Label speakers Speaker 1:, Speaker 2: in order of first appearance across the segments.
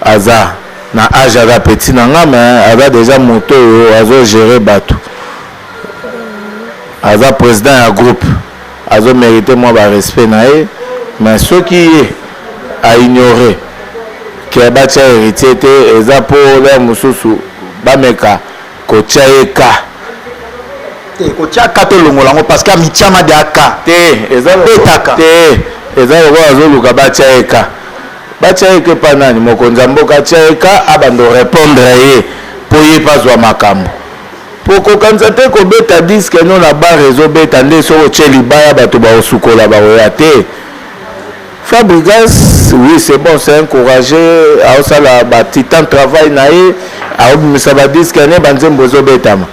Speaker 1: Aza Na age aza petit Na nga mais aza dejà moto oyo azo gere batu aza president ya groupe azo merite mwa ba respect Na ye mais soki ye a ignore que ba tia heritier te eza po leur mususu ba meka ko tia ye cas te
Speaker 2: kotia ka tolongola yango parce que amitiama de aka te eza
Speaker 1: betaka te eza lokola azoluka batia ye ka Batia ye que epa nani? Mokonzi ya mboka atia ye ka abanda o repondre ye po ye pe azua makambo. Po kokanisa te kobeta disque no na bar ezo beta nde soki otie libaya batu bako sukola bako ya te. Fabrigas oui c'est bon c'est un courage azo sala ba titan travail na ye azo bimisa ba disque ne ba nzembo ezo betama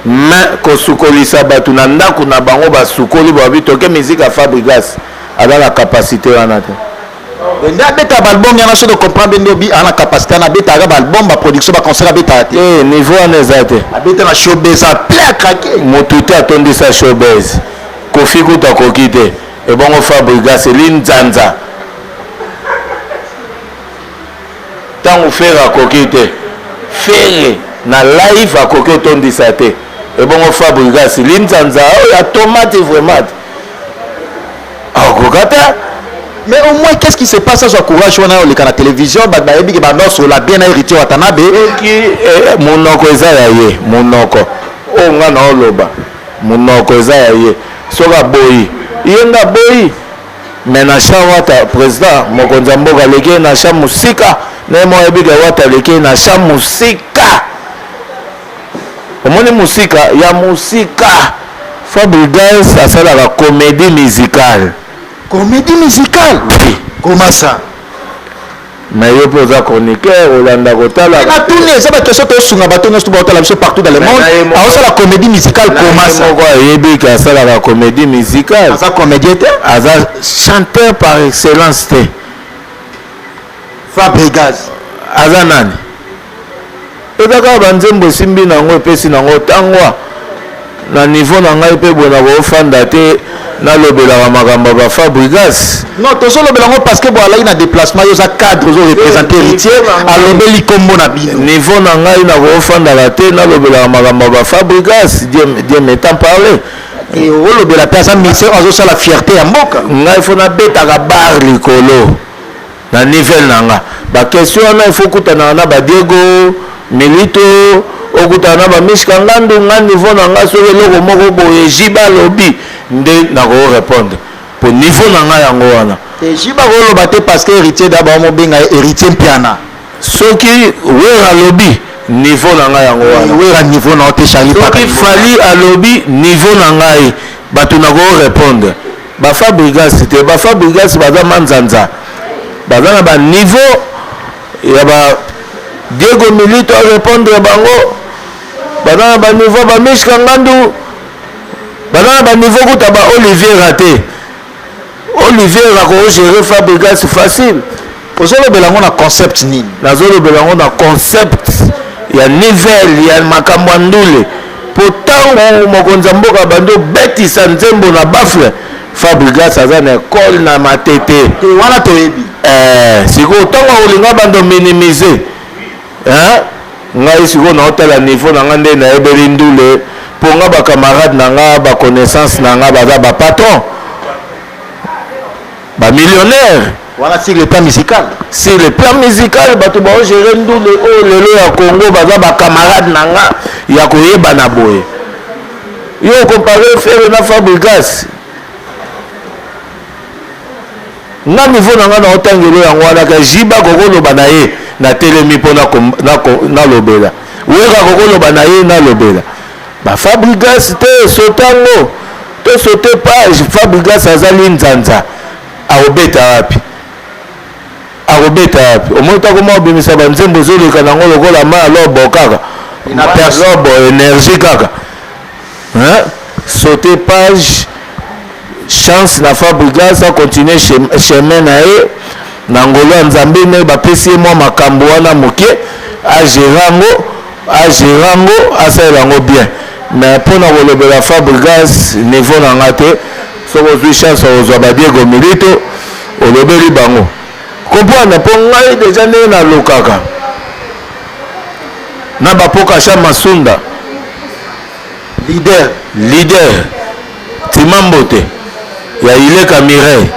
Speaker 1: mais kosukolisa batu na ndaku na bango ba sukoli balobi toke musique ya Fabrigas aza na capacite wana te. Mais nde abeta
Speaker 2: ba album yana soki comprendre bien ndobi ana capacité ana beta ka ba album ba production ba concert abeta te. Eh niveau ana eza te.
Speaker 1: Abeta na showbiz
Speaker 2: a plein à craquer. Mutu te atondisa
Speaker 1: showbiz. Kofi kutu akoki te. Ebongo Fabrigas eli nzanza. Tango Ferre akoki te. Ferre na live akoki otondisa te. Ebongo Fabrigas linzanza oyo oh, ya tomate vraiment. akoka te mais au
Speaker 2: moins qu'est-ce qui se passe azwa courage wana ya oleka na télévision bato bayebi ke banda osola bien na héritier watanabe soki eh,
Speaker 1: monoko eza ya ye monoko oyo oh, ngai naoloba monoko eza ya ye soki aboyi ye nde aboyi me na cha wata président mokonzi ya mboka aleki ye na cha mosika naye moko ayebi ke wata aleki ye na cha mosika omoni musika ya musika fabrigas asalaka comédie musicale comédie
Speaker 2: musicale oui. comment
Speaker 1: ça mais yo mpe oza chroniqueur olanda kotala natuni eza bakestion
Speaker 2: tosunga bato nyonso baotala biso partout dans le monde aosala comédie musicale komasa moko ayebi ke asalaka
Speaker 1: comédie musicale aza comédien te
Speaker 2: aza
Speaker 1: chanteur par excellence te
Speaker 2: fabrigas aza
Speaker 1: nani Eza kaka ba nzembo esimbi na ngo epesi na ngo tangwa na niveau na ngai pe boye na ko fanda te na lobelaka makambo ba fabrigas non tozo lobela ngo
Speaker 2: parce que bo alaki na déplacement yo za cadre ozo représenter héritier alobeli kombo na bino niveau na ngai na ko
Speaker 1: fandaka te na lobelaka makambo ba fabrigas dieu dieu m'étant parlé olobela
Speaker 2: mpe aza ministère azosala fierté ya mboka ngai fo nabetaka
Speaker 1: bar likolo Na nivel na nga ba question wana il faut okutanaka na ba Diego Milito, okutana na ba Mishka Ngandu. Nga niveau na nga soki eloko moko boye JB alobi nde nako repondre po niveau na nga yango wana. Te JB akoloba
Speaker 2: te parce que Heritier Dabo amobenga ye Heritier Mpiana. Soki
Speaker 1: Werra alobi niveau na nga yango wana. Werra niveau na yo te Charly
Speaker 2: Paka. Soki Fally
Speaker 1: alobi niveau na ngai batu nako repondre. Ba fabrigas te ba fabrigas baza manzanza baza na ba niveau ya ba Diego Milito a répondre bango baza na ba niveau ba Mishka Ngandu baza na ba niveau kuta ba Olivier Raté Olivier ako gérer fabrigas facile Ozolobela yango
Speaker 2: na concept nini? Nazolobela yango na
Speaker 1: concept ya nivel ya makambo ya ndule mpo ntango mokonzi ya mboka abandi obetisa nzembo na bafle fabrigas aza na ekole na matete te wana toyebi
Speaker 2: eh, sikoyo
Speaker 1: ntango akolinga bando minimize eh? ngai sikoyo naotala niveau na ngai nde nayebeli ndule mpo nga bacamarade na nga baconnaissance na nga baza bapatron ba millionnaire wana sur le plan
Speaker 2: musical sur le plan musical bato baogere
Speaker 1: ndule oyo lelo ya congo baza bacamarade na nga ya koyebana boye yo okompare fere na fabrigas nga nivo na nga na otangelo yango wana ka jiba kokoloba na ye natelemi mpo nalobela wera kokoloba na ye nalobela Ba Fabrigas te sota ngo to sote page Fabrigas aza linzanza akobeta wapi akobeta wapi omoni ta koma obimisa ba nzembo ezoleka nango lokola ma lobo kaka na lobo energie kaka hein sauter page chance na fabrigas acontinue chemin na ye na ngolo ya nzambe nde bapesi ye mwa makambo wana moke agera yango A gera ango asalela ango bien mais pona kolobela fabrigas niveau na nga te soki ozui chance ya kozua ba diego milito olobeli bango comprendre po ngai deja ndenge nalukaka na bapoka sha masunda leader leader Tima mbote ya Ileka Mireille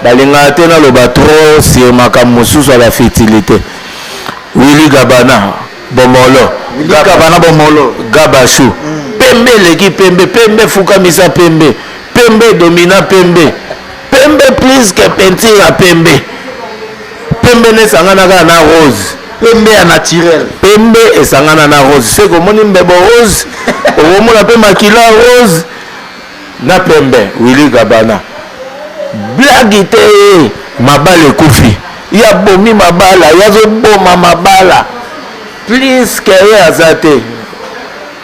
Speaker 1: balingaka te naloba trop sur makambo mosusu ya ba futilite. Willy Gabana Bomolo Willy Gabana Bomolo Gabachou mm. Pembe eleki pembe, pembe efukamisa pembe, pembe domina pembe Pembe plus que peinture ya pembe. Pembe nesangana kaka na rose. Pembe ya naturel. Pembe esangana na rose. Seko omoni mbebo rose, okomona pe makila rose na pembe. Willy Gabana. Blague te mabala ekufi. Ya bomi mabala, ya zoboma mabala. Plus que ye aza te.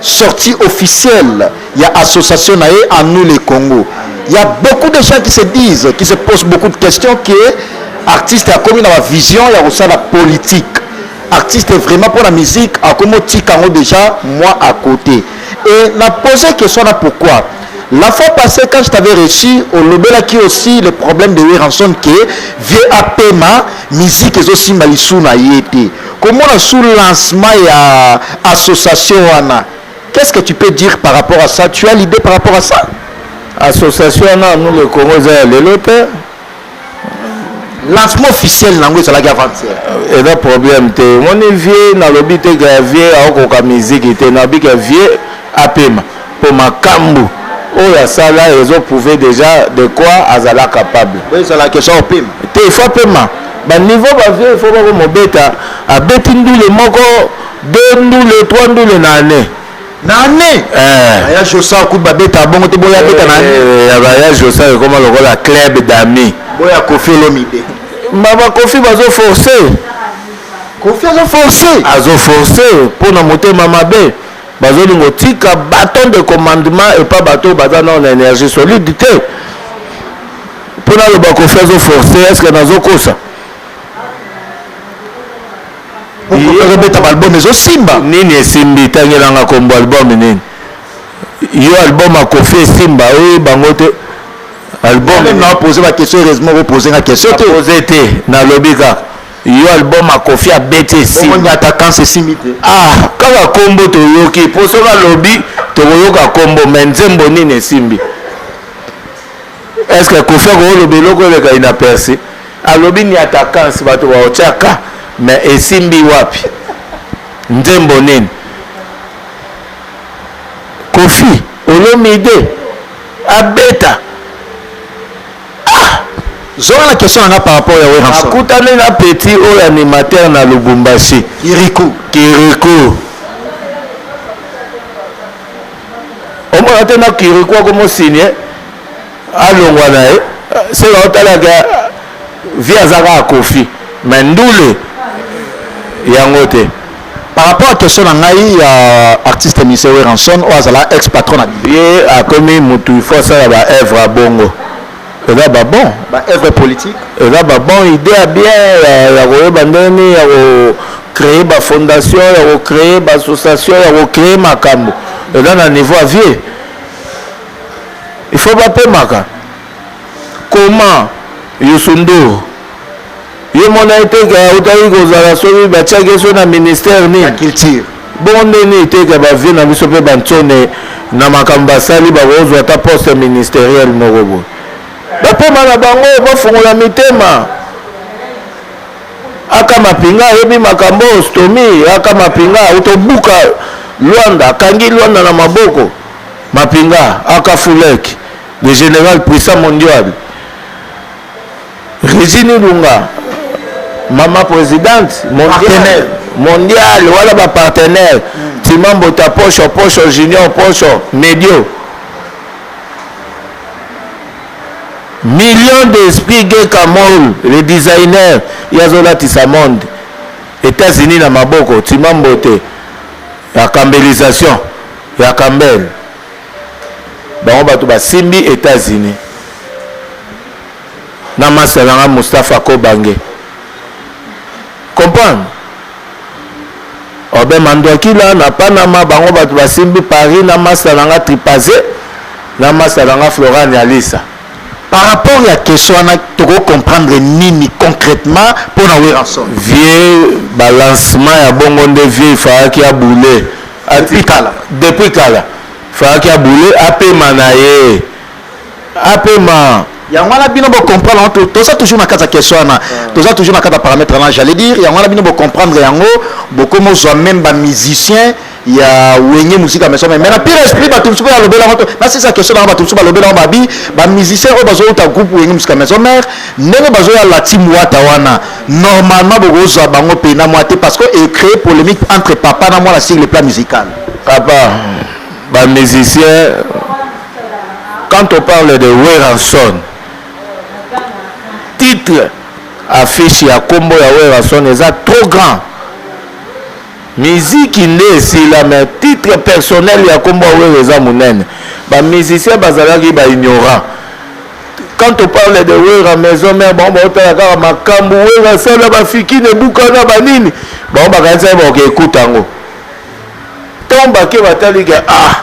Speaker 2: sortie officielle ya association na ye en nous les Congo il y a beaucoup de gens qui se disent qui se posent beaucoup de questions que artiste akomi na ba vision ya kosala politique artiste vraiment mpo na musique akomi otika yango déjà moi à côté et na pose question na pourquoi La fois passée, quand je t'avais reçu, au Lobela qui aussi le problème de Weranson qui est vieux Apema, musique et aussi Malisuna y était. Komona sous lancement ya association wana qu'est ce que tu peux dire par rapport à ça tu as l'idee par rapport à ça? Association
Speaker 1: wana nous le Congo eza ya lelo te.
Speaker 2: lancement officiel nango ezalaki avancer euh, eza problème
Speaker 1: te omoni vie nalobi te ka vie aokoka miziki te nabika vie apema Po makambu oyo asala ezo prouver dejà de quoi azala capable. Bo ezala question
Speaker 2: opema. Te il faut apema.
Speaker 1: Ba niveau ba vieux il faut bako mobeta abeti ndule moko deux ndule trois ndule na année. Na année? Eh. Aya Josa kutu babeta bongo te boya beta na année. Eh, ya ba ya Josa ekoma lokola club d'amis. Boya Koffi Olomide.
Speaker 2: Ma ba Koffi
Speaker 1: bazo forcer. Koffi azo forcer. Azo forcer pona motema mabe. Bazolinga otika baton de commandement epa bato oyo baza nao na energie solide te mpo naloba kofi azoforce eske nazokosa
Speaker 2: okobeta baalbum ezosimba nini esimbi
Speaker 1: tangelanga kombo album nini yo album akofi esimba oyo bango te album na pose ba
Speaker 2: question heureusement ko pose nga question te pose te
Speaker 1: nalobi kaka yo album ya kofi abeti esimbi attaquant esimbi
Speaker 2: te ah kaka kombo
Speaker 1: toyoki po soki alobi tokoyoka kombo me nzembo nini esimbi estce kofi akooloba eloko eleka inaperci alobi ni attaquance bato baotyaka me esimbi wapi nzembo nini kofi olomide abeta
Speaker 2: Ah! Zola na question nanga par rapport ya Werrason. Akutani na petit
Speaker 1: oyo animateur na Lubumbashi. Kirikou. Kirikou. Omona te na Kirikou akomo signe alongwa na ye. Sela otalaka vie azaka akofi. Mais ndule yango te. Par
Speaker 2: rapport à question na ngai ya artiste Mister Werrason oyo azala ex patron na bino. Ye akomi
Speaker 1: mutu il faut asala ba œuvre ya bongo. Eza ba bon. Ba œuvre politique.
Speaker 2: Eza ba bon
Speaker 1: idée ya bien ya, ya koyeba ndenge nini ya ko créer ba fondation ya ko créer ba association ya ko créer makambo. Eza na niveau ya vieux. Il faut bapemaka. Comment Youssou Ndour Yo mona ye te ke autaki kozala soki batiaki ye so na ministère nini? Na culture.
Speaker 2: Bongo nde nini te
Speaker 1: ke ba vieux na biso pe ba nsone na makambo basali bakozwa ata poste ministeriel moko boye. Bapema na bango bafungola mitema. Aka mapinga ayebi makambo oyo stomi aka mapinga autobuka Luanda akangi Luanda na maboko mapinga aka fulek le general puissant mondial Regine Ilunga, maman presidente, mondial, mondial, wala ba partenaire, mm. Timambo ta posho, posho, junior, posho, medio. Millions d'esprits gay Kamol, le designer, yazola tisa monde. États-Unis na maboko, Timambo te, ya kambelisation, ya kambel. Bango bato basimbi États-Unis. na masta na nga Mustapha Kobange comprendre Obe Manduakila na Panama bango bato basimbi Paris na masta na nga Tripaze na masta na nga Flora Nialisa par rapport
Speaker 2: ya question wana toko comprendre nini concrètement mpo na Werrason vieux
Speaker 1: balancement ya bongo nde vieux ifalaki ya boule depuis kala depuis kala ifalaki ya boule apema na ye apema yango wana
Speaker 2: bino bocomprendre yango toza toujours na kati ya question wana toza toujours na kati ya parametre wana j'allais dire yango wana bino bocomprendre yango bokomi ozwa meme bamusicien ya wenge mosika maison mais na pire esprit bato mosusu oyo alobela yango nasisa question nanga bato mosusu balobela yango babi bamusicien oyo bazouta groupe wenge mosika maison mare ndenge bazoya la team wata wana normalement bokozwa bango mpe na mwa te parce que ecree polémique entre papa na mwana sur le plan musical papa
Speaker 1: bamusicien quand on parle de werrason titre affiche ya kombo ya werrason eza trop grand miziki nde esila mais titre personnel ya kombo ya wera eza monene bamusicien bazalaki baignorant quand on parle de wera maison mare bango baotala kaka makambo wera asala bafikine bukana banini bango bakanisaki bakoka ekuta yango ntango bake batali ke ah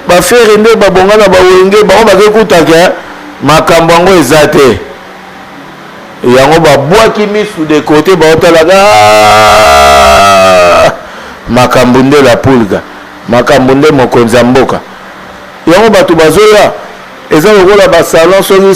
Speaker 1: Ba ferre nde ba bonga na ba wenge bango bake kuta ke makambo yango eza te yango ba bwaki misu de cote ba otalaka ah! makambo nde la pulga makambo nde mokonzi ya mboka yango bato bazoya eza lokola ba salon soki